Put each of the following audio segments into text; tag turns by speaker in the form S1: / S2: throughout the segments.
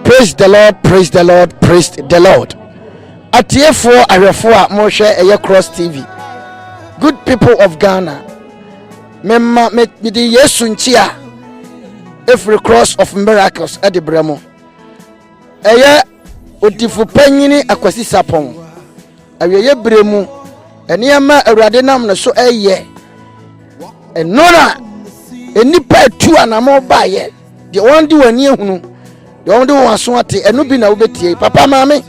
S1: praise the lord praise the lord praise the lord atiefoɔ ahwɛfoɔ a mohwɛ ɛyɛ cross tv good people of ghana mema mede yesu nkyi a ɛfiri cross of miracles ɛde brɛ mo ɛyɛ Odifo Panyin Akwasi Sarpong, awieeɛ berɛ mu nneɛma a Awurade nam ne so ɛyɛ, ɛno na nnipa atu anamɔ baeɛ, deɛ wɔn de wɔn ani ahunu, deɛ wɔn de wɔn aso ate, ɛno bi na wobɛtie. Papa maame,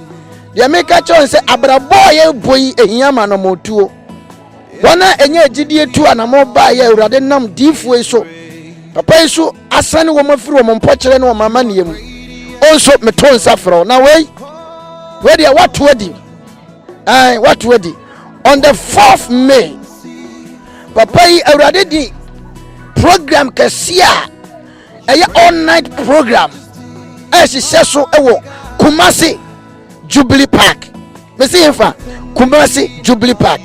S1: deɛ meka kyerɛ wɔn sɛ abrabɔ a yɛbɔ yi ehia ma anamɔtuo. wɔn a ɛnyɛ agyidie tu anammɔn baa yɛ awurade nam diifoɔ yi so papa yi so asane wɔn afiri wɔn mpɔkyerɛ ne wɔn amanneɛ mu o nso meto nsa frɛ na wei wei deɛ wato adi ɛn wato adi on the fourth may papa yi awurade di program kɛseɛ a ɛyɛ all night program ɛhyehyɛ so ɛwɔ kumase. jubilee park mesi hefa kumasi jubilee park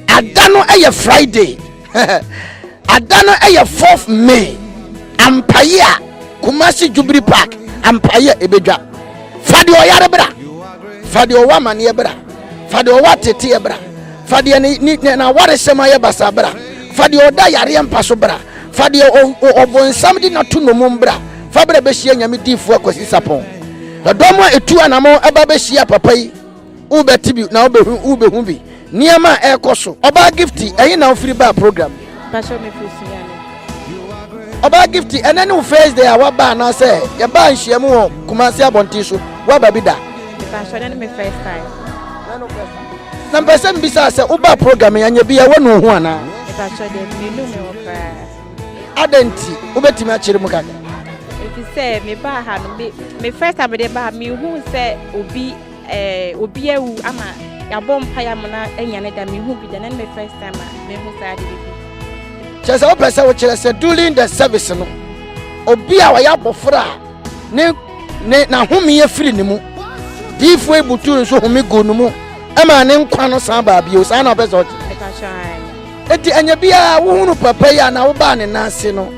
S1: ada no yɛ friday ada no yɛ fourth may ampaye a kumasi jubilee park ampaye a ebedwa fa deɛ ɔyare bra fa deɛ ɔwɔ amaneɛ bra fa deɛ ɔwɔ ateteɛ bra fa deɛ ne ne n'awaresɛm ayɛ basa bra fa deɛ ɔda yareɛ mpa so bra fa deɛ ɔbɔnsam de n'ato nnommum bra fa bra bɛhyia nyame diifoɔ akwasi sapɔn Ɛdɔm a etu anamɔn aba behyia papa yi. Wobɛte bi na wobɛhu wobɛhu bi nneɛma a ɛrekɔ so. Ɔbaa Gifty, ɛhe na wofiri baa program yi? Mpakyɛw mefiri Sunyani. Ɔbaa Gifty, ɛnɛ ne wo first day a woaba anaasɛ yɛbaa nhyiamu wɔ Kumasi abɔnten so, woaba bi da? Mpakyɛw ɛnɛ ne me first time. Na mpɛ sɛ mebisa sɛ wobaa program yi anyɛ bi a woanu wo ho anaa? Mpakyɛw deɛ menu me ho koraa. adɛn nti wobɛtumi akyerɛ mu kakra ɛfiri sɛ mebaa ha no me first time de baa mehu sɛ obi eh, obi awu ama yɛabɔ mpa yɛ amona anya ne da mehu bi da na ne me first time a mehu saa de bibi kyɛ sɛ wopɛ sɛ wokyerɛ sɛ during the service no obi a ɔyɛ abɔfra a ne ne n'ahome afiri ne mu diifo ebutu nso home gu ne mu ɛma ne nkwa no san baa bio saa na ɔpɛ sɛ ɔkyerɛ Enti ɛnyɛ biara wohu no papa yi anaa wobaa ne nan ase no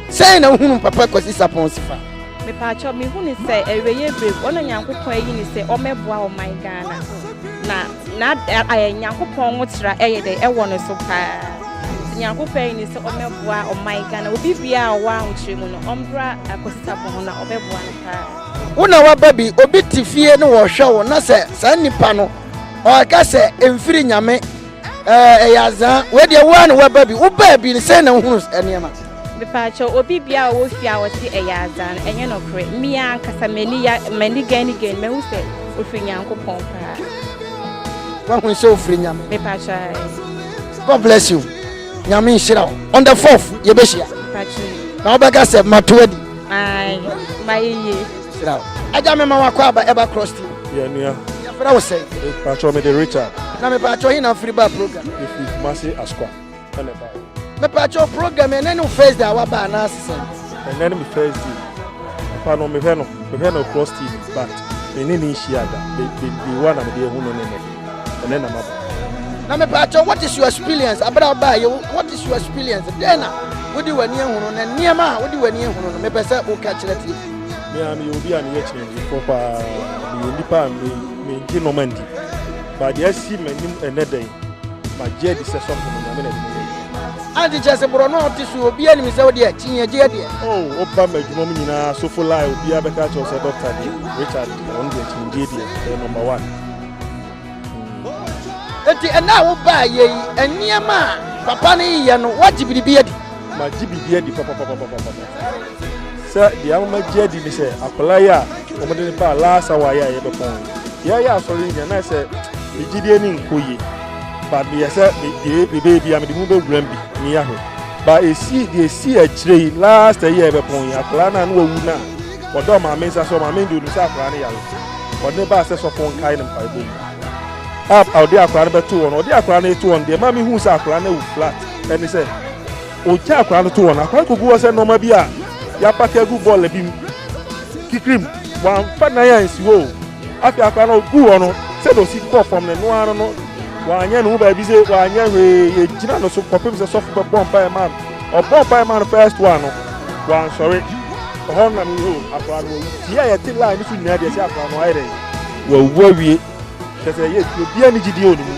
S1: sɛn na wohu no papa Kwasi Sarpong Sifa. Mepaakyɛw mehu no sɛ ɛreyɛ brem wɔn a Nyankopɔn ayi no sɛ ɔmɛboa ɔman Ghana na na ayɛ Nyankopɔn nwotra ɛyɛ dɛ ɛwɔ no so paa sɛ Nyankopɔn ayi no sɛ ɔmɛboa ɔman Ghana obi bia a ɔwɔ ahokyerɛ mu no ɔmbra Kwasi Sarpong ho na ɔbɛboa no paa. Wo na waba bi obi te fie ne wɔhwɛ wo na sɛ saa nipa no ɔka sɛ ɛmfiri Nyame ɛɛ ɛyɛ azaa wei deɛ woa na woaba bi wobaa bi sɛ na wohunu nneɛma mepaakyɛ obi bia a ɔwɔ fie a ɔte ɛyɛ azaa no ɛnyɛ nɔkorɛ mia ankasa m'ani ya m'ani gɛn ne gɛn mahu sɛ ɔfiri nyankopɔn paa wahu sɛ ɔfiri nyame mepaakyɛ god bless you nyame nhyira wo on the fourth yɛbɛhyia na wobɛka sɛ mato adi mayeye Sira o. Agya mema wakɔ aba ɛba cross team. Yɛ nua. Yɛ fira wo sɛ. Patro me de Richard. Na me patro yi na firi ba program. Me firi Kumasi Askwa. Ɛna ba. Me patro program yɛ nani first day awa ba ana asese. Ɛna ni me first day. Papa no me hwɛ no me hwɛ no cross team but me ni ni nhyia da. Be be be wa na me de ehu no ne ne. Ɛna na ma ba. Na me patro what is your experience abira ba ye what is your experience? Dena. Wodi wani ehunu na nneɛma a wodi wani ehunu no me pɛ sɛ wo ka kyerɛ tie. me ara meyɛ obi a meyɛ kyerɛkyerɛfoɔ paa meyɛ nnipa a mengye nɔma ndi ba deɛ asi m'anim ɛnɛ dɛn magye adi sɛ sɔfo no nyame na ɛde meyɛ ante kyerɛ sɛ borɔ no a ɔte so obi anim sɛ wodeɛ kyi yɛgye adeɛ woba ma adwuma mu nyinaa sofo lai obiaa bɛka kyerɛw sɛ dɔkta deɛ richard ɔno deɛ kyingye deɛ ɛyɛ number one Eti ɛnna a wobaa yɛ yi, nneɛma a papa no yɛ no, woagye biribi adi? Magye biribi adi papapapapapa. Sɛ deɛ ama magye adi ne sɛ akwadaa yi a wɔde no baa last hour yi a yɛbɛpɔn yi, yɛayɛ asɔre nyina na sɛ me gyidie ne nkɔ yie but meyɛ sɛ mebɛyɛ bi a mede mu bɛwuram bi meyɛ ho ba ɛsi deɛ ɛsi akyire yi last ɛyɛ yɛbɛpɔn yi akwadaa no a na wawu no a Wɔdɔɔ Maame nsa so, Maame de onim sɛ akwadaa no yare, wɔde no baa sɛ sɔfo nkae no mpaebɔ mu. Ab a ɔde akwadaa no bɛto wɔn no, ɔde akwadaa no reto wɔn deɛ ɛma mehuu sɛ akwadaa no awu flat ɛne sɛ ɔgya akwadaa no to wɔn. Akwadaa no kɔgu hɔ sɛ nneɛma bi a yɛapake agu bɔɔla bi mu kikirim, wɔamfa nan ansi hɔ o. Afei akwadaa no ɔgu hɔ no, sɛdeɛ ɔsi kɔɔ fam no, ɛno ara no, wɔanyɛ ne ho baabi sɛ wɔanyɛ hwee, yɛgyina no so kɔpem sɛ sɔfo bɛbɔ mpaeɛ ma no. Ɔbɔɔ mpae maa no first one no, wansɔre. Ɛhɔ no na mehuu akwadaa no wawu. Fie a yɛte line no so nyinaa deɛ ɛsɛ akwadaa no ayɛ dɛn? Wawu awie. Kyerɛ sɛ ɛyɛ fie obiara ne gyidie wɔ ne mu.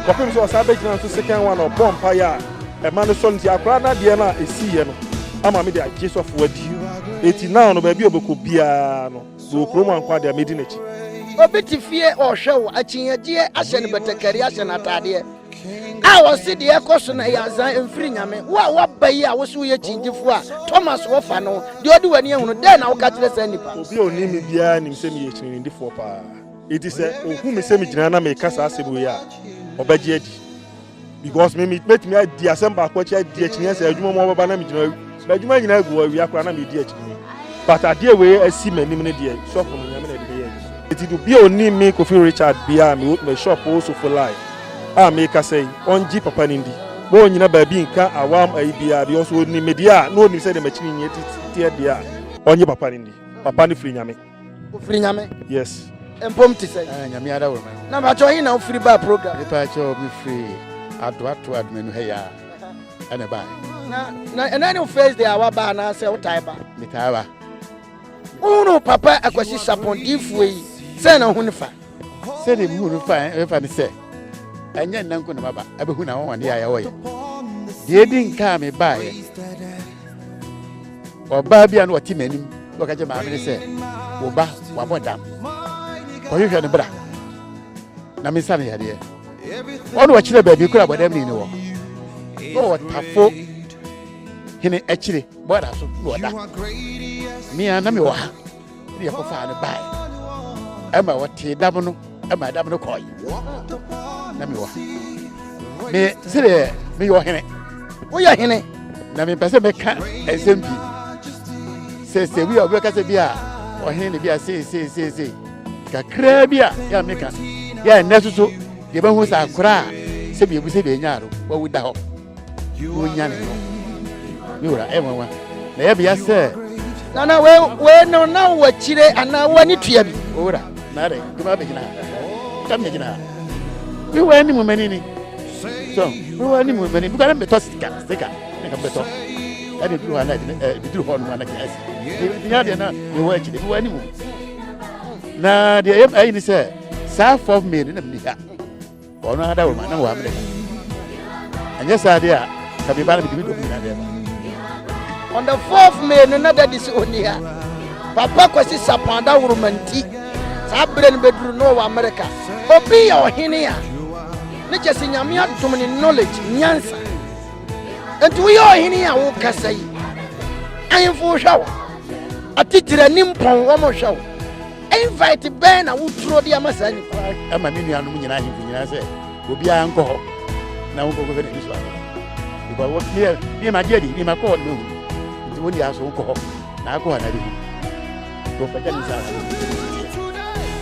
S1: Kɔpem sɛ ɔsan bɛgyina nso second one a ɔbɔɔ mpaeɛ a ɛma no sɔre nti akwadaa no adeɛ no a ɛsiiɛ no ama me de agye sɔfoɔ adi. Enti now no baabi a ɔbɛkɔ biara no mewɔ kurom a nko ara deɛ mɛdi n'akyi. Obi te fie ɔrehwɛ wo, akyinnyegyeɛ ahyɛ no batakari ahyɛ no ataadeɛ. a ɔse deɛ ɛkɔ so na ɛyɛ azan ɛmfiri nyame wo a woaba yi a wose woyɛ kyingyefo a thomas wɔfa no deɛ ɔde w'ani ahunu dɛn na woka kyerɛ saa nnipa obi a ɔnim me biara nim sɛ meyɛ kyininidifoɔ paa enti sɛ ɔhu me sɛ megyina na meka saa asɛm wei a ɔbɛgye adi because me metumi adi asɛm baako akyi adi akyinyeɛ sɛ adwuma mu ɔbɛba na megyina M'adwuma nyinaa gu hɔ, awia koraa na meredi akyinnye. But adeɛ wei asi m'anim no deɛ, shop no, Nyame na ɛde bɛyɛ adwuma. Enti do biaa ɔnnim me Kofi Richard biaa a mewɔ me shop wo Sofo Lai a meekasa yi, ɔngye papa no ndi, ma ɔnnyina baabi nnka awam ayi biaa because ɔnim me deɛ a, na ɔnim sɛdeɛ m'akyinnyɛ teɛ deɛ a, ɔngye papa no ndi, papa no firi Nyame. ofiri nyame yes mpom te sɛ ah, nyame ara wɔ ma na mpakyɛ ɔhe na wofiri baa program mepakyɛ mefiri adoato admanu ha yɛa ɛne baa na ɛna ne first day a waba anaasɛ wotae ba metaa ba wohunu papa akwasi sapɔn diifoɔ yi sɛ na ho ne fa sɛdeɛ mehu no fa ɛfa ne sɛ ɛnyɛ nna nko na maba abɛhu na wɔwɔde a yɛwɔ yɛ deɛ ɛdi nka a mebaeɛ ɔbaa bi a na ɔte m'anim na ɔka kyɛ maame ne sɛ wo ba wabɔ dam ɔhwehwɛ no bra na mensa no yadeɛ ɔne ɔkyerɛ baabi kora bɔdam ni ne wɔ na ɔtafo hene akyire bɔda so na ɔda mea na mewɔ ha ne yɛ kɔfaa no bae ɛma wɔtee dam no ɛma ɛdam no kɔe na mewɔ ha me sɛdeɛ meyɛ ɔhene woyɛ hene na mempɛ sɛ mɛka ɛnsɛm pii sɛ sɛ bi a wobɛka sɛ bi a ɔhene ne bi a seeseeseesei kakraa bi a yɛ a meka yɛ ɛnnɛ soso yɛbɛhu sɛ akora a sɛbi ɛbu sɛ deɛ ɛnyaa no wawu da hɔ wonyane no me wura ɛyɛ nwanwa na ɛyɛ bea sɛ nana wei no na wakyire anaa wani tua bi wura na dɛ duma bɛgyina ha ka megyina ha me wura anim mani ni so me wura anim mani bi kɔdɛ mbɛtɔ sika sika ne ka mbɛtɔ ɛde duru hɔ anaa ɛbiduru hɔ nom anaa gyina asi ɛbinya deɛ na me wɔ akyire me wɔ anim na deɛ ɛyɛ ni sɛ saa fɔf mmie no na mni ha wɔn ara da wɔn ma na wɔn amena ɛnyɛ saa deɛ a kabi ba na mede bi dɔm nyina dɛm on the fourth may no na dadi sɛ ɔni ha papa kwasi sapɔn da woroma nti saa berɛ no bɛduru no wɔ amerika obi yɛ ɔhene a ne kyɛ sɛ nyame adom ne knowledge nyansa enti woyɛ ɔhene a wokasa yi ahemfo hwɛ wo atitire ne mpɔn wɔn hwɛ wo Invite bɛn na wotwerɛ de ama saa nipa? Ɛma me nuanom nyinaa ahemfo nyinaa sɛ obiara nkɔ hɔ na wonkɔkɔ fɛ n'ani so ano. Because what me me ma deɛ di me ma kɔ hɔ no mehu. Nti wɔn deɛ aso wokɔ hɔ na akɔ hɔ na ɛbɛhu. Wɔpɛgya ne saa.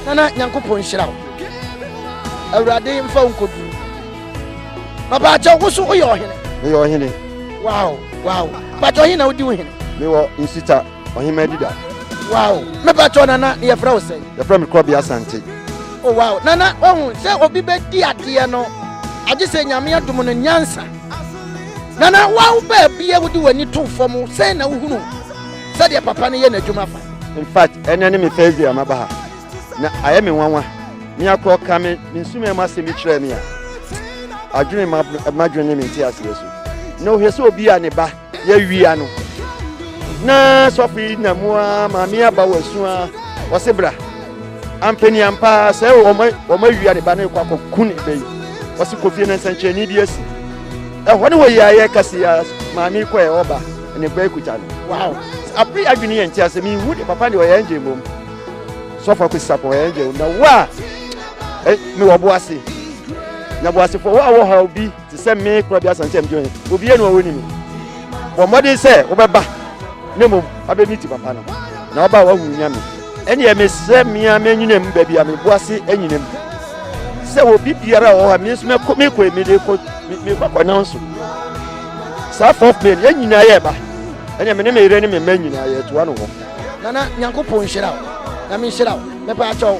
S1: Nana Nyankopɔn nhyira wo. Awurade mfa wo nkɔdu. Papa akyɛ wo so woyɛ ɔhene. Meyɛ ɔhene. Wow wow. Papa ɔhene na wodi wo hene. Mewɔ nsita. Ɔhemmaa Adida. Wow! Mepatɔ nana, yɛfrɛ wo sɛn? Yɛfrɛ me Korɔbea Asante. Oh wow! Nana, wahu sɛ obi bɛdi adeɛ no, agye sɛ Nyame adom no nyansa. Nana, wawo baabi a wode w'ani to fam sɛn na wohunu sɛdeɛ papa no yɛ n'adwuma fa? In fact, ɛnɛ ne me first day a maba ha, na ayɛ me nwanwa. Me akorɔ ka me me nsumɛ mu asɛm bi kyerɛɛ me a, adwene m'adwene ne me nteaseɛ so. Na ɔhwɛ sɛ obi a ne ba Yɛawia no, na sɔfo yi nam mu ara ma me aba wɔ asu ara, ɔse bra. Ampani ampa ara sɛ wɔn awia ne ba no rekɔ akɔku ne ba yi. Ɔse kɔ fie na nsɛnkyerɛnne bi asi. Ɛhɔ ne wɔ yɛayɛ kɛse ya maame kɔ ɛ ɔba ne ba akuta no. Wow! Apre adwene yɛ nti asɛ me hu de papa de ɔyɛ angel mbom. Sɔfo akwesi sapɔ ɔyɛ angel na wo a me wɔ bo ase. Na bo ase fo wo a wɔ ha obi Te sɛ me kura bi asan sɛ mdi ɔhene. Obi yɛ no a wɔnim. Bɔ mmɔden sɛ wobɛba na mmom abɛmi ti papa no. Na ɔba a wahu nyame. Ɛneɛ mesrɛ mea manyinam baabi a mebo ase anyinam. Sɛ obi biara a ɔwɔ ha me nso mɛkɔ mekɔ emi de kɔ mekɔ kɔ nan so. Saa fourth plane yɛn nyinaa yɛ ba. Ɛneɛ me ne me yere ne me mma nyinaa yɛ toa no hɔ. Nana Nyankopɔn nhyira wo. Nyame nhyira wo. Mepɛ akyɛw.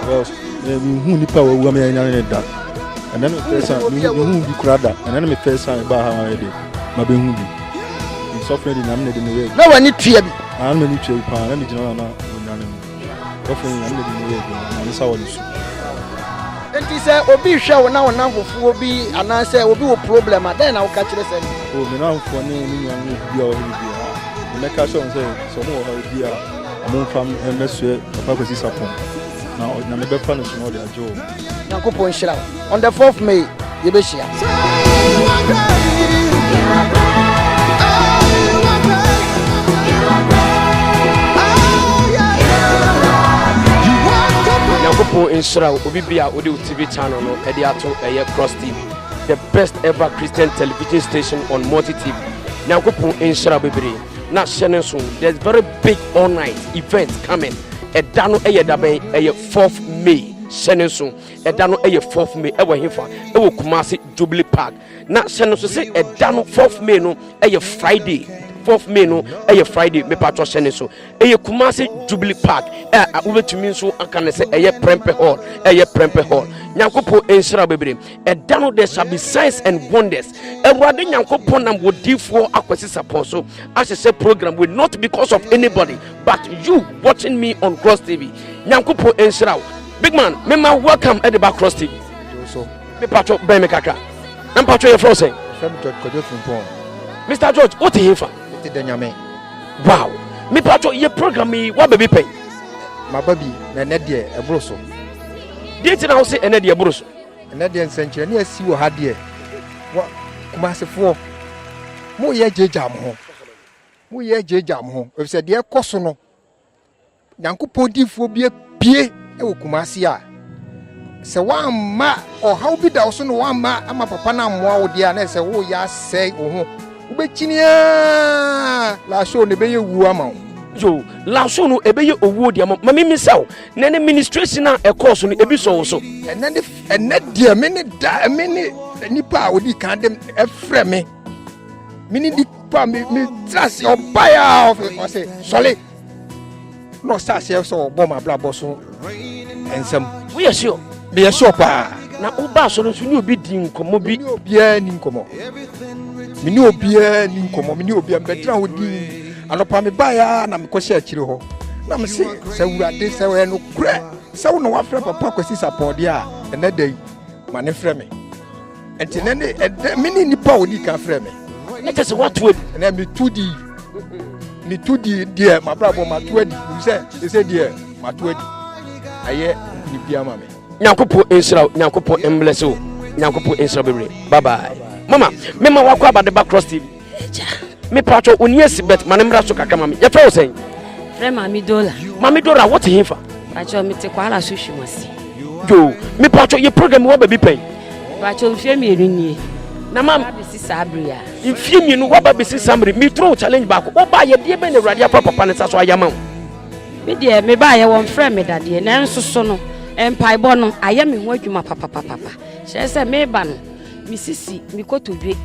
S1: Because eh, me hu nipa wa wua me anya ne da. And then me first time me hu bi kura da. And then me first time ba ha wa de ma be hu bi. Me suffer di na me de me ye. Na wani tua bi. Ah na me ni tua bi pa na me jina na onya ne. Suffer di na me de me ye bi. Na me sa wani su. Enti sɛ obi hwɛ wo na wo namfofoɔ bi anaasɛ obi wɔ problem a dɛn na woka kyerɛ sɛ no? O me namfofoɔ ne me nuanom bi a wɔhɛ bi biara. Mɛka kyerɛ wɔn sɛ sɛ wɔn wɔ hɔ bi a Momfa me mmɛsoɛ Papa Kwasi Sarpong na Nyame bɛfa no so na ɔde agye wo. Nyankopɔn nhyira wo. On the fourth May, yɛbɛhyia. Nyankopɔn nhyira wo. Obi bi a wode wo TV channel no ɛde ato ɛyɛ Cross TV, the best ever Christian television station on multi TV. Nyankopɔn nhyira wo bebree. na hyɛ ne nso there's very big all night event coming ɛda no ɛyɛ dabɛn ɛyɛ fourth may hyɛ ne nso ɛda no ɛyɛ fourth may ɛwɔ hefa ɛwɔ kumase jubilee park na hyɛ no nso sɛ ɛda no fourth may no ɛyɛ friday fourth may no ɛyɛ friday mepatɔ hyɛ ne so ɛyɛ kumase jubilee park ɛ wobɛtumi nso aka ne sɛ ɛyɛ prɛmpɛ hall ɛyɛ prɛmpɛ hall nyankopɔn nhyira bebree ɛda no there shall be signs and wonders awurade nyankopɔn nam wɔ difoɔ akwasi sapɔn so ahyehyɛ program we not because of anybody but you watching me on cross tv nyankopɔn nhyira wo big man mema welcome ɛde ba cross tv mepatwɔ bɛn me kakra na mpatwɔ yɛfrɛ wo sɛn mr george wote hefa wow mepatwɔ yɛ program yi woaba bi pɛn maba bi na ɛnɛ deɛ ɛboro so deɛ nti na wo se ɛnɛ deɛ ɛboro so Ɛnɛ deɛ nsɛnkyerɛnne asi wɔ ha deɛ wɔ Kumasefoɔ mo yɛ gyegya mo ho mo yɛ gyegya mo ho efisɛ deɛ ɛkɔ so no Nyankopɔn diifoɔ bi apue wɔ Kumase a sɛ wamma ɔhaw bi da wo so na wamma ama papa no ammoa wo deɛ a na ɛsɛ woyɛ asɛe wo ho wobɛkyini a laso na ɛbɛyɛ wuo ama wo. Yo, laso no ɛbɛyɛ owuo deɛ ama ma mimi sɛ wo. na ne ministration a ɛkɔɔ so no ebi sɔ wo so. ɛnɛ ne ɛnɛ deɛ me ne da me ne nipa a odi kan de ɛfrɛ me me ne nipa me me tira ase ɔba yɛ a ɔfɛ ɔsɛ sɔle na ɔsɛ aseɛ sɛ ɔbɔ ma abrabɔ so nsɛm. woyɛ sure. meyɛ sure paa. na woba so no nso ne obi di nkɔmmɔ bi. obiara ni nkɔmmɔ me ne obiara ni nkɔmmɔ me ne obiara mbɛtira ho dii. Anɔpa mebaeɛ ara na mekɔhyɛ akyire hɔ na mese sɛ awurade sɛ ɔyɛ nokorɛ sɛ wo na woafrɛ papa kwasi sapɔɔdeɛ a ɛnɛ da yi ma ne frɛ me ɛnti nɛ ne ɛdɛ me ne nnipa a ɔdi ka frɛ me ne kyɛ sɛ woato adi ɛnɛ meto di meto di deɛ mabrabɔ mato adi m sɛ ɛsɛ deɛ mato adi ayɛ biribia ma me nyankopɔn nhyira wo nyankopɔn mblɛse wo nyankopɔn nhyira bebree bye bye mama mema wakɔ abadeba cross tv Agya. Mepatwɔ wo nie si bɛt ma ne mmra so kakra ma me. Yɛfrɛ wo sɛn? Frɛ Maame Dora. Maame Dora wote he fa? Patwɔ mete kwara so hwim ase. Yo, mepatwɔ yɛ program wɔ baabi pɛn? Patwɔ mfie mmienu nie. Na ma bɛsi saa bere a. Mfie mmienu waba bɛsi saa bere. Me throw challenge baako. Wo ba yɛ deɛ bɛn na awurade afa papa ne sa so ayama wo? Me deɛ me ba yɛ wɔn frɛ me dadeɛ nanso so no mpaebɔ no ayɛ me ho adwuma papapapa. Kyerɛ sɛ me ba no Misisi me kotodwe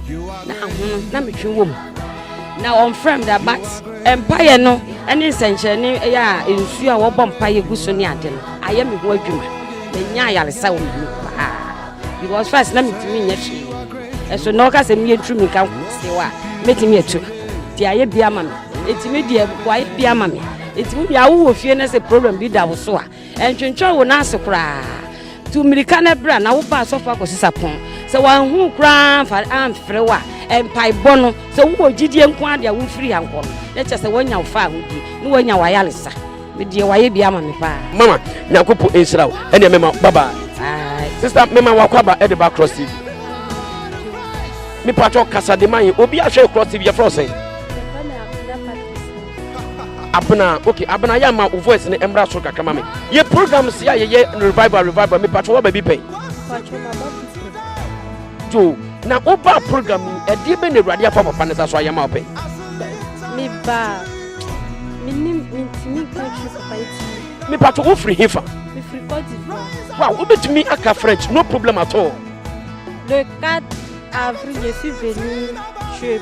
S1: na ahono na metwe wɔ mu. Na wɔmfrɛ me da but mpaeɛ no ne nsɛnkyerɛnne ɛyɛ a nsuo a wɔbɔ mpaeɛ gu so ne ade no ayɛ me ho adwuma. Manya ayaresa wɔ me ho paa because first na metumi nyɛ hwee. Ɛso na ɔka sɛ meyɛ ntumi nka nkosew a mɛtumi atu. Ti ayɛ bi ama me. Ɛtumi deɛ wayɛ bi ama me. Ɛtumi deɛ awo wɔ fie na sɛ problem bi da wo so a Ɛntwentwɛn wo nan ase koraa. Tu mmirika na bra na wo ba asɔfo akɔsesa pon. Sɛ wanhu wo koraa amfa amfrɛ wo a, mpaebɔ no, sɛ wowɔ gyidie nko ara de a womfiri ha nkɔ no, na kyerɛ sɛ wanya wo fahodie ne wanya w'ayaresa. Me deɛ wayɛ bi ama me paa. Mama nyankopɔ nhyira wo ɛneɛ mema wo bye bye. Bye. Sister mema wakwaba ɛde ba cross tv. Me patwɔ kasa de ma yɛn obi ahwɛ cross tv yɛfrɛ wo sɛn. abena okay abena yɛ ama wo voice ne mmra soro kakra ma me yɛ program si a yɛyɛ revival revival mepatwɛ wɔ baabi pɛn to na woba program yi ɛdeɛ bɛ na awurade afa papa ne sa so ayɛ ma wo pɛn mebaa menim mentumi nka kyerɛ papa nti mepatwɛ wofiri hefa mefiri kɔdivoa wow wobɛtumi aka french no problem at all le 4 avril je suis venu chez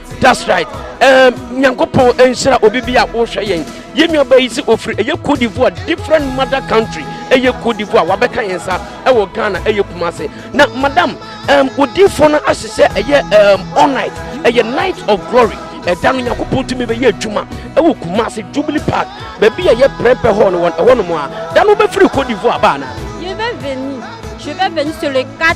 S1: That's right. Um, Nyankopɔn nhyira obi bi a wohwɛ yɛn. Yɛn nua bɛyi sɛ ofiri ɛyɛ Cote d'Ivoire different mother country ɛyɛ Cote d'Ivoire wabɛka yɛn sa ɛwɔ Ghana ɛyɛ Kumase. Na madam um, odiifoɔ no ahyehyɛ ɛyɛ um, all night ɛyɛ night of glory ɛda no nyankopɔn tumi bɛyɛ adwuma ɛwɔ Kumase Jubilee Park baabi a ɛyɛ prɛmpɛ hɔ no wɔn ɛhɔ nom a da no wobɛfiri Cote d'Ivoire baa na. Je vais venir. Je vais venir sur le 4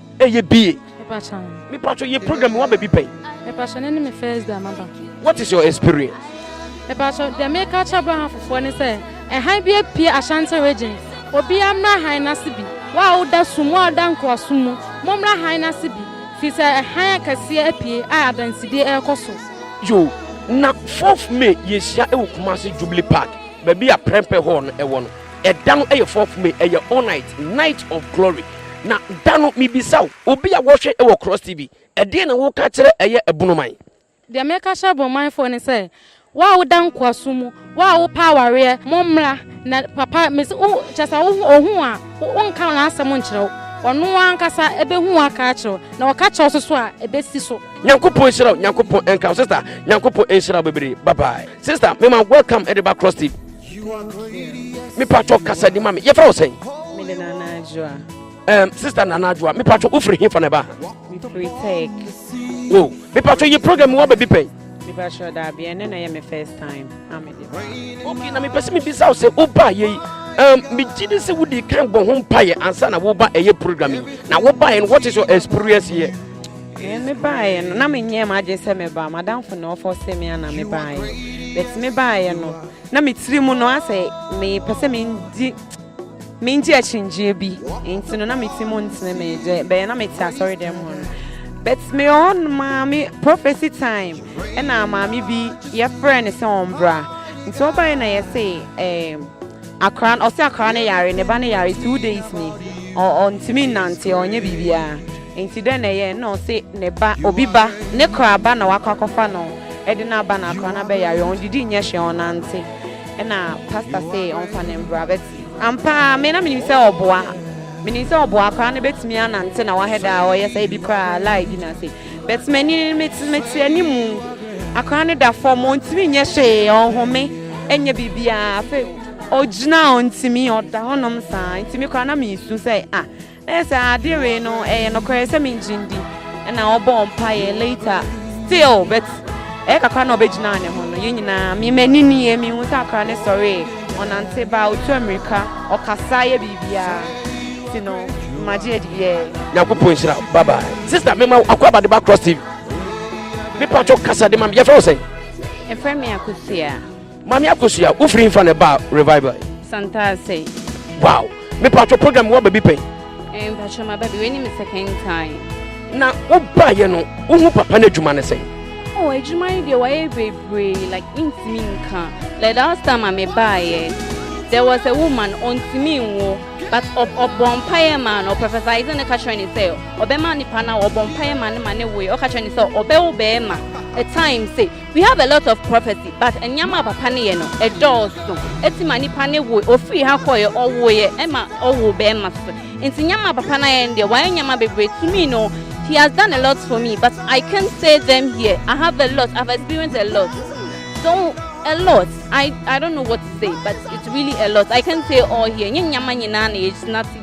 S1: Ɛyɛ bie. Mepacha. Mepacha yɛ program wa baby pɛn. Mepacha ne ne me first day amaba. What is your experience? Mepacha deɛ me ka kyɛ bra ha fofoɔ ne sɛ ɛhan bi apue Ashanti region. Obi amra han n'ase bi. Wa wo da sum wa wo da nkoasom mu mo mra han n'ase bi firi sɛ ɛhan akɛseɛ apue a adansidie ɛrekɔ so. Yo na fourth May yɛ hyia ɛwɔ Kumasi Jubilee Park baabi a Prempeh Hall no ɛwɔ no. Ɛda no yɛ fourth May, ɛyɛ all night, night of glory. Na da no mebisa wo, obi a wɔhwɛ wɔ Cross TV, ɛdeɛn na woka kyerɛ ɛyɛ ɛbono man? Deɛ meka kyerɛ ɛbono man foɔ ne sɛ, wo a woda nkoasom mu, wo a wopɛ awareɛ, mo mmra na papa mese wo kyerɛ sɛ wo ho ohu wo a, wo nka n'asɛm nkyerɛ wo, ɔno ankasa ɛbɛhu wo aka akyerɛ wo, na ɔka kyerɛ wo so so a, ɛbɛsi so. Nyankopɔn nhyira wo, Nyankopɔn nka wo sister, Nyankopɔn nhyira wo bebree, bye bye sister, mema welcome de ba Cross TV. mepatwɔ kasadi ma me yɛfrɛ wo sɛn um, sister nana adwoa mepatwɔ wofiri hefa na ɛba wo mepatwɔ yɛ program woaba bi pɛn mepatwɔ daabi ɛnɛ na ɛyɛ me first time okay na mepɛ sɛ mebisa wo sɛ wobaa yɛi um, megye de sɛ wodi kan bɔ ho mpaeɛ ansa na woba ɛyɛ program yi na wobaeɛ no what is your experience here eh, mebaeɛ no na menyɛ m agye sɛ meba madamfo na ɔfɔ sɛ me ana mebaeɛ bɛti mebaeɛ no Na me tiri mu no asɛ mepɛ sɛ mendi mendi akyinnyegyeɛ bi nti no na me ti mu ntene me deɛ bɛyɛ na mete asɔre dɛm hɔ no but me hɔ no maame prophecy time ɛna maame bi yɛfrɛ no sɛ ɔmbra nti ɔbaeɛ na yɛse eh, akora ɔse akora no yare ne ba no yare two days ni ɔntumi nnante ɔnyɛ biribiara Enti dɛn na ɛyɛe na ɔse ne ba, obi ba, ne kora ba na wakɔ akɔfa no de no aba na akora no abɛyare, ɔndidi nyɛ hwee, ɔnnante, ɛna pastor se ɔmfa no mbra, but ampa ara me na menim sɛ ɔboa, menim sɛ ɔboa, akora no bɛtumi anante na wahɛ da a ɔyɛ sɛ ebi koraa lie bi n'ase, but m'ani, mete, mete animu, akora no da fam, ɔntumi nyɛ hwee, ɔnhome, ɛnyɛ biribiara, afei ogyina a ɔntumi, ɔda hɔnom saa, nti me koraa na mesu sɛ ah, Ɛyɛ sɛ ade wee no ɛyɛ nokorɛ sɛ mengyen di ɛna ɔbɔɔ mpaeɛ later still but ɛyɛ kakra na ɔbɛgyinaa ne ho no yɛn nyinaa me m'ani nie mehu sɛ akora ne sɔree ɔnante ba ɔtu amirika ɔkasa yɛ biribiara ti no magye adi yɛ Nyankopɔn nhyira bye bye sister mema akɔ abade ba cross tv me patro kasa de ma me yɛfrɛ wo sɛn ɛfrɛ me akosia Maame Akosua, wo firi nfa na ɛba revival? Santase. Wow, me patro program wa baby pɛn? Eh, patro ma baby, wei ni me second time. Na wo ba ye no, wo hu papa na adwuma ne sɛn? Oh, adwuma yi deɛ wayɛ bebree like ntumi nka. Like the last time a me ba ye, there was a woman ɔntumi nwo but ɔbɔ mpaeɛ maa no professor isaac ne ka kyerɛ ne sɛ ɔbɛma nipa no a ɔbɔ mpaeɛ maa no ma ne woe ɔka kyerɛ ne sɛ ɔbɛwo bɛrima a time se We have a lot of prophecy but nneɛma a papa no yɛ no ɛdɔɔso ɛti ma nipa ne wo ofiri ha kɔɛ ɔwoeɛ ɛma ɔwo bɛɛma so nti nneɛma a papa no ayɛ no deɛ wayɛ nneɛma bebree to me no he has done a lot for me but I can't say them here I have a lot I've experienced a lot so a lot I, I don't know what to say but it's really a lot I can't say all here nye nneɛma nyinaa na yɛgyina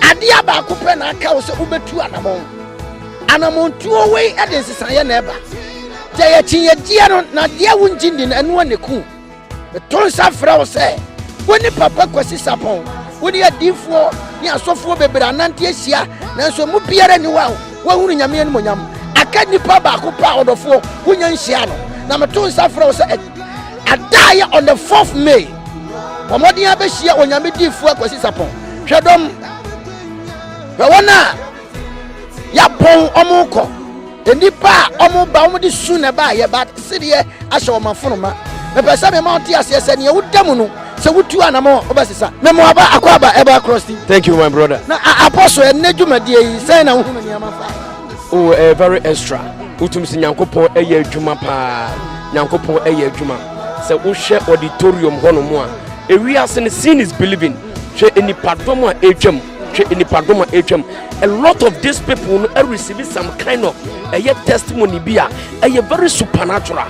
S1: Adeɛ baako pɛ na aka wo sɛ wobɛtu anamɔn. Anamɔntuo wei de nsesaeɛ na ɛba. Deɛ yɛkyinyɛgyeɛ no na deɛ wongye ndi no ɛno ne ku. Meto nsa frɛ wo sɛ wo ne Papa Kwasi Sapɔn wo ne adiifoɔ ne asɔfoɔ bebree anante ahyia nanso mu biara ni wa wahunu nyame animonyam aka nipa baako paa ɔdɔfoɔ wonya nhyia no na meto nsa frɛ wo sɛ adaa yɛ on the 4th May Bɔ mmɔden ara bɛhyia Onyame diifoɔ Akwasi Sapɔn. Hwɛ dɔm. Hwɛ wɔn a yɛapɔn wɔn kɔ. Nnipa a wɔn ba wɔn de su na ɛba yɛ ba sedeɛ ahyɛ wɔn afonoma. Mepɛ sɛ mema wɔn te aseɛ sɛ nea woda mu no sɛ wotu anamɔ wobɛsesa. Memo aba akɔ aba ɛba across the. Thank you my brother. Na apostle ɛnɛ dwumadie yi sɛn na wohunu nneɛma fa. Oh, ɛyɛ very extra. Wotumi sɛ Nyankopɔn ɛyɛ adwuma paa. Nyankopɔn ɛyɛ adwuma. Sɛ wohwɛ auditorium hɔnom a, ewiase no seeing is believing. Hwɛ nnipadɔm a ɛretwam, hwɛ nnipadɔm a ɛretwam. A lot of these people no receive some kind of ɛyɛ testimony bi a ɛyɛ very supernatural.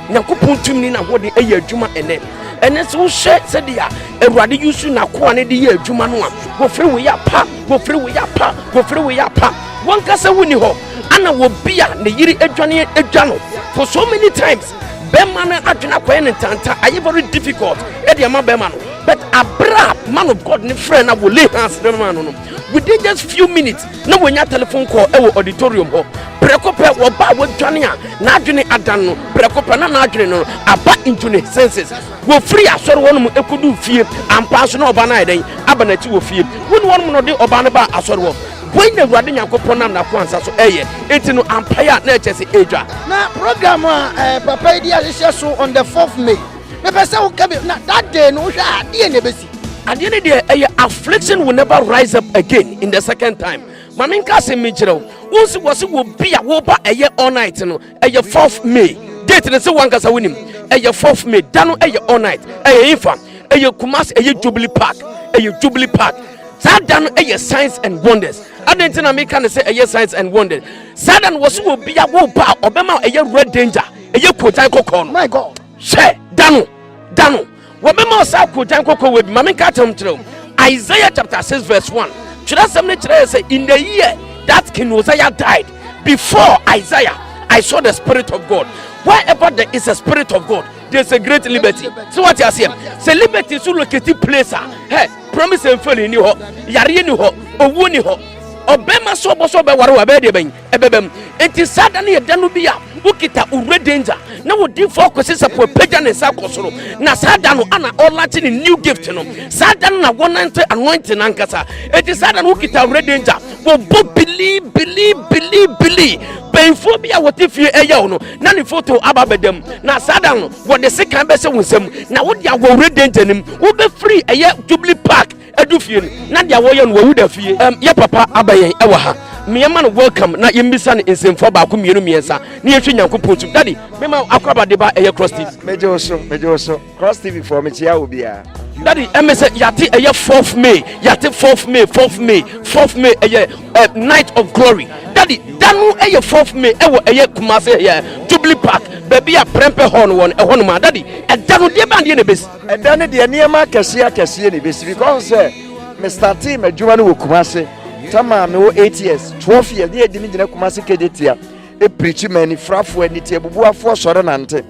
S1: Nyankopɔn tumi ne n'ahode ɛyɛ adwuma ɛnɛ. Ɛnɛ sɛ wohwɛ sɛdeɛ Awurade yusu n'akoa no de yɛ adwuma no a, wɔfiri wo yɛ apa, wɔfiri wo yɛ apa, wɔfiri wo yɛ apa. Wɔnkasa wonni hɔ, ana wɔbi a ne yere adwane adwa no for so many times. bɛrima no adwene akɔyɛ ne ntanta ayɛ very difficult ɛde ama bɛrima no but abira man of god ne frɛ na wɔ lay hands ne ma no no within just few minutes na wɔnya telephone call ɛwɔ auditorium hɔ prɛko pɛ wɔba a wɔdwane a n'adwene adan no prɛko pɛ na n'adwene no aba into ne senses wɔfiri asɔre hɔ nom ɛkɔdu fie ampa so na ɔba no ayɛ dɛn aba n'akyi wɔ fie wo ne wɔnom na ɔde ɔba no ba asɔre hɔ Wei na Awurade Nyankopɔn nam n'akoa nsa so ɛyɛ. Enti no, ampae a na ɛkyɛ se edwa. Na program a eh, papa yi de ahyehyɛ so on the fourth May. Mepɛ sɛ woka bi na that day no wohwɛ a deɛ na ɛbɛsi. Adeɛ no deɛ ɛyɛ affliction will never rise up again in the second time. Ma menka asɛm mi nkyerɛ wo. Wo nso wɔ se wɔ bi a woba ɛyɛ all night no. ɛyɛ fourth may date ne sɛ wankasa wonim ɛyɛ fourth may da no ɛyɛ all night ɛyɛ infa ɛyɛ kumase ɛyɛ jubilee park ɛyɛ jubilee park saa da no ɛyɛ signs and wonders adɛn nti na meka ne sɛ ɛyɛ signs and wonders saa da no wɔ so wɔ bia wo ba a ɔbɛma ɛyɛ red danger ɛyɛ kotan kɔkɔɔ no hwɛ da no da no wɔbɛma ɔsɛ akoogyan kɔkɔwa bi ma menka atam kyerɛ wo isaiah chapter 6 verse 1 twerɛsɛm no kyerɛɛ sɛ in the year that king Uzziah died before isaiah i saw the spirit of god wherever there is a spirit of god there's a great liberty so what you are saying say liberty so located place a hey promise and fail ni hɔ yareɛ ni hɔ owuo ni hɔ ɔbɛma so ɔbɔ so ɔbɛware wɔ abɛɛ deɛ bɛn ɛbɛba mu. Enti saa da no yɛ da no bi a wokita owura danger na wodifo akwasi sapo apagya ne nsa akɔ soro na saa da no ana ɔlakye ne new gift no saa da no na wɔnante anointing ankasa enti saa da no wokita owura danger wɔbɔ bili bili bili bili bɛnfoɔ bi a wɔte fie ɛyɛ wo no na ne foto aba bɛda mu na saa da no wɔde sekan bɛsɛ wo nsam na wode awɔ owura danger no mu wobɛfiri ɛyɛ jubilee park Edu fie no, na deɛ wɔyɛ no wawu da fie. Um, yɛ papa aba yɛn ɛwɔ ha. Mmeɛma no welcome na yɛmmisa no nsɛmfua baako mmienu mmiɛnsa na yɛnhwɛ Nyankopɔn tum. Daddy, mema akoraba de ba ɛyɛ Cross TV. Megye wo so, megye wo so. Cross TV foɔ mekyia wo biara. Daddy, ɛmɛ sɛ yɛate ɛyɛ 4th May, yɛate 4th May, 4th May, 4th May ɛyɛ uh, night of glory. Daddy, da no ɛyɛ 4th May ɛwɔ ɛyɛ Kumase ɛyɛ Jubilee Park, baabi a Prempeh Hall no wɔ no, ɛhɔ nom a. Daddy, ɛda no deɛ bɛn deɛ na ɛbɛsi? Ɛda no deɛ nneɛma akɛseɛ akɛseɛ na ɛbɛsi because sɛ me startee m'adwuma no wɔ Kumase tamaa mewɔ eight years twelve years ne yɛdi me gyina Kumase Kejetia ɛpirikyi ma anifirafoɔ aniti abubuafoɔ sɔre nante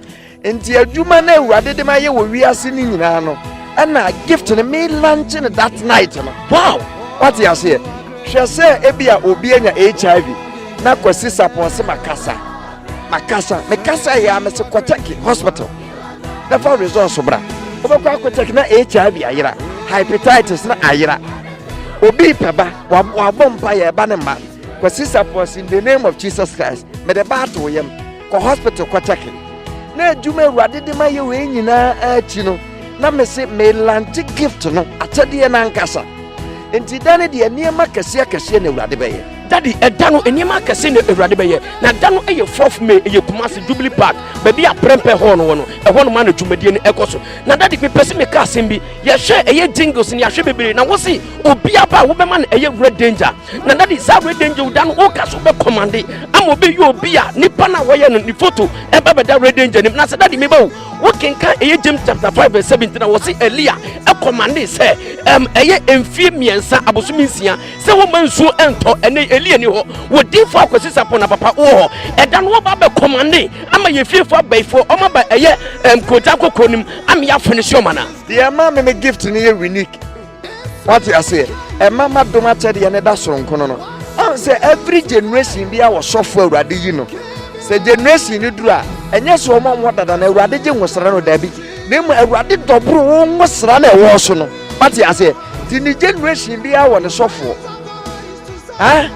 S1: nti adwuma no awurade de ma yɛ wɔ wiase no nyinaa no ɛna gift no me lanche no that night no wow wate aseɛ hwɛ sɛ ebi a obi anya HIV na kwasi sapɔn se makasa makasa mekasa yɛ a mese kɔtɛke hospital na fa results bra wobɛkɔ akɔkyɛk na hiv ayera hepatitis na ayera obi pɛ ba wabɔ mpa yɛ ɛba ne mma kɔ sisa pɔs in the name of jesus christ mede ba ato yam kɔ hospital kɔkyɛke na adwuma awurade de ma yɛ wei nyinaa akyi no na mese melante gift no akyɛdeɛ no ankasa nti da no deɛ nneɛma kɛseɛ kɛseɛ na awurade bɛyɛ Daddy, ɛda no nneɛma akɛse na Awurade bɛyɛ. Na da no yɛ fourth May, ɛyɛ Kumasi Jubilee Park, baabi a Prempeh Hall no wɔ no. Ɛhɔ nom a na dwumadie no ɛkɔ so. Na daddy, mepɛ sɛ meka asɛm bi. Yɛhwɛ ɛyɛ jingles no, yɛahwɛ bebree. Na wose obiara ba a wobɛma no ɛyɛ Red Danger. Na daddy, saa Red Danger da no woka so bɛ commande ama obi yɛ obi a nipa no a wɔyɛ no ne photo ɛba bɛda Red Danger nim. Na sɛ daddy meba o, wokenkan ɛyɛ James chapter five verse seventeen na wɔse Elia ɛkɔmande sɛ ɛm ɛyɛ mfie mmiɛnsa abosomi nsia sɛ woma nsuo ɛntɔ ɛnɛ ɛli ɛni hɔ wɔ difoɔ akwasi sapɔ na papa wɔ hɔ ɛda no wɔba bɛ kɔmande ama yɛ fiefoɔ abɛifoɔ ɔma ba ɛyɛ ɛm kota kɔkɔɔ nim ama yɛ afɔ ne si ɔma na. deɛ ɛma me me gift no yɛ unique wate aseɛ ɛma ma dom akyɛdeɛ ne da soronkono no ɔn sɛ every generation bi a wɔsɔfo awurade yi no sɛ generation no duru a ɛnyɛ sɛ ɔma wɔn dada na awurade gye nwosra no daabi na emu awurade dɔboro wɔn nwosra na ɛwɔ so no. Wate aseɛ ti ne generation biara wɔ ne sɔfoɔ ah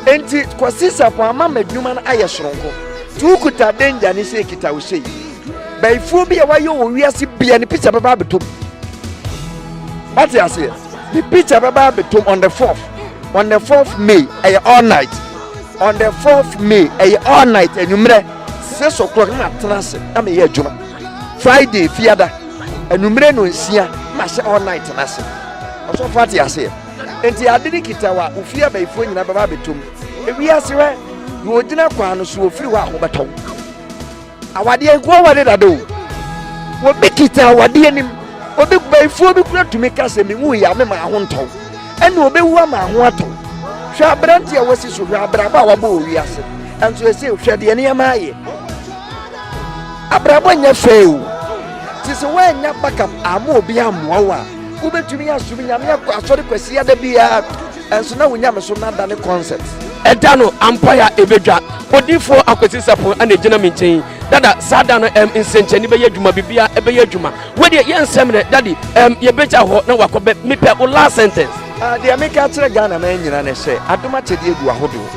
S1: enti kɔsi sapo ama m'adwuma no ayɛ soronko ti wokuta danger ne sɛ ekita wo sei bɛyifuo bi a wayɛ wɔ wiase bia ne picture bɛba abɛtom wate aseɛ ne picture bɛba abɛtom on the fourth on the fourth may ɛyɛ all night on the fourth may ɛyɛ all night anwummerɛ six o'clock na matena ase na meyɛ adwuma friday fiada Anwummere no nsia na hyɛ all night no ase. Ɔsɔfo ate aseɛ. Enti ade ne kita wa wo fie abayifoɔ nyinaa bɛba abɛtɔ mu. Ewi ase hɔ na ɔgyina kwan no so ɔfiri hɔ a wɔbɛtɔ wo. Awadeɛ nkoa wɔ ne dada o. Wɔbi kita awadeɛ anim. Obi bayifoɔ bi kura tumi ka sɛ menwu yɛ a me maa ho ntɔ wo. Ɛna ɔbɛwu ama ho atɔ wo. Hwɛ aberante a wasi so hwɛ abrabɔ a wabɔ wɔ wiase. Ɛnso ɛsɛ hwɛ deɛ nneɛma ayɛ. abrabɔ nyɛ fɛ o te sɛ woannya backup ama obi ammoa wo a wobɛtumi asom nyame akɔ asɔre kwasi ada biara ɛnso na wo nyame so no ada ne concept ɛda no ampae a ɛbɛdwa odifoɔ akwasi sapon ana ɛgyina me nkyɛn dada saa da no ɛm nsɛnkyɛnne bɛyɛ adwuma biribiara ɛbɛyɛ adwuma wodeɛ yɛ nsɛm nɛ dade ɛm yɛbɛgya hɔ na wakɔ bɛ mepɛ wo last sentence ah, deɛ meka kyerɛ ghana ma nyina ne sɛ adom akyɛdeɛ gu ahodoɔ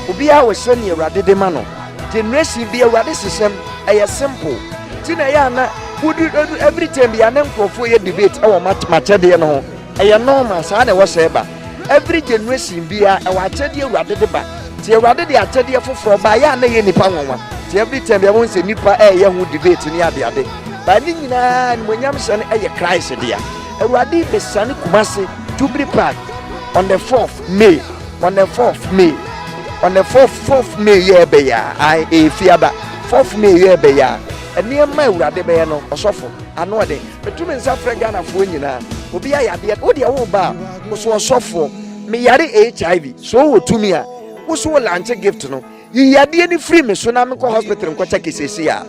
S1: obiara wɔhyɛ ne awurade de ma no Generation bi awurade hyehyɛm ɛyɛ simple ti na ɛyɛ ana wodi edu every time bi ana nkurɔfoɔ yɛ debate ɛwɔ makyɛdeɛ no ho ɛyɛ normal saa na ɛwɔ sɛ ba every generation bi a ɛwɔ akyɛdeɛ awurade de ba ti awurade de akyɛdeɛ foforɔ ba ɛyɛ ana yɛ nipa nwanwa ti every time bi ɛwɔ sɛ nipa ɛyɛ ho debate ne adeade ba ne nyinaa nimonyam hyɛ no ɛyɛ Christ deɛ awurade bɛsane kumase tubiri park on the 4th May on the fourth may on the fourth fourth may yɛ ɛbɛ yɛ a efi aba fourth may yɛ ɛbɛ yɛ a nneɛma awurade bɛyɛ no ɔsɔfo ano ɔde metu me nsa frɛ ghanafoɔ nyinaa obi ayɛ adeɛ wo deɛ wo ba a woso ɔsɔfoɔ meyare hiv so wɔ tumi a woso wɔ lanche gift no yiyi adeɛ no firi me so na mekɔ hospital nkɔkyɛ kesesi a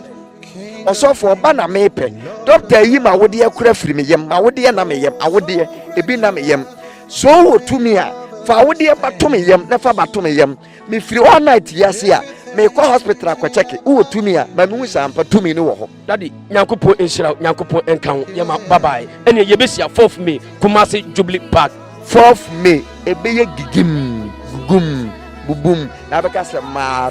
S1: ɔsɔfo ɔba na mepɛ dɔkta yi ma awodeɛ kora firi me yam ma awodeɛ na me yam awodeɛ ebi na me yam So wowɔ tumi a, fa wo deɛ ba to me yam na fa ba to me yam. Mefiri all night yi ase a, meekɔ hospital akɔkyɛke. Wowɔ tumi a, ma mehu sɛ ampa tumi no wɔ hɔ. Daddy Nyankopɔn nhyira wo Nyankopɔn nka wo yɛma wo bye bye ɛneɛ yɛbɛhyia fourth May Kumasi Jubilee Park. Fourth May ɛbɛyɛ gigim gugum bubum na abɛka sɛ maa.